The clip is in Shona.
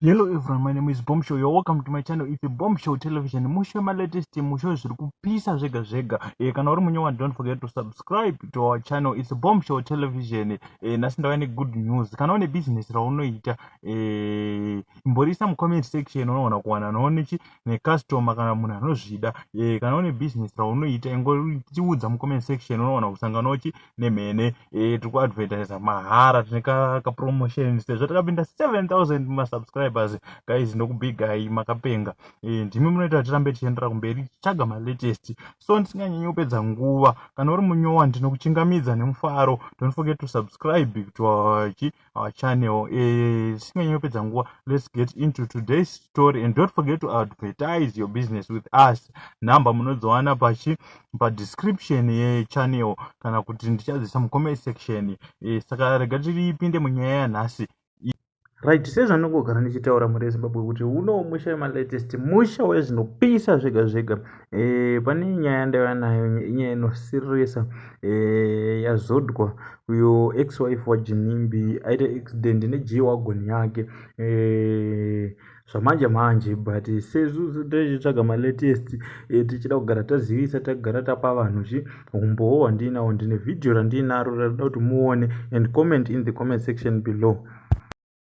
Hello everyone, my name is Bombshell. You're welcome to my channel. It's Bombshell Television. Mushe ma latest mushe zviri kupisa zvega zvega. Eh kana uri munyewa don't forget to subscribe to our channel. It's Bombshell Television. Eh nasi ndauya ne good news. Kana une business raunoita eh imborisa mu comment section unoona kuwana noone chi ne customer kana munhu anozvida. Eh kana une business raunoita ingoriudza mu comment section unoona kusangana uchi nemhene eh, tiri kuadvertisa mahara tine kapromotion sezvo takapinda 7000 masubscribers guys ndokubigai makapenga eh, ndimi munoita kuti tirambe tichiendera kumberi tichitsvaga malatest so ndisinganyanyi kupedza nguva kana uri munyowa ndinokuchingamidza nemufaro don't forget to subscribe to our our channel eh, tisinganyanya kupedza nguva let's get into today's story and don't forget to advertise your business with us number munodziwana pachi padescription yechannel kana kuti ndichadzisa mucomment section eh, saka rega tiripinde munyaya yanhasi right sezvandingogara ndichitaura mhuri yezimbabwe kuti uno musha yemalatest musha wezvinopisa zvega zvega E, pane nyaya yandaiva nayo inyaya inosiririsa e, eh, yazodwa uyo ex wife wajinimbi aita accident neg wagon yake e, zvamanje manje but sezuzu tichitsvaga malatest e, tichida kugara tazivisa tagara tapa vanhu zvi humbowo hwandiinawo ndine vhidhiyo randiinaro rarida kuti muone and comment in the comment section below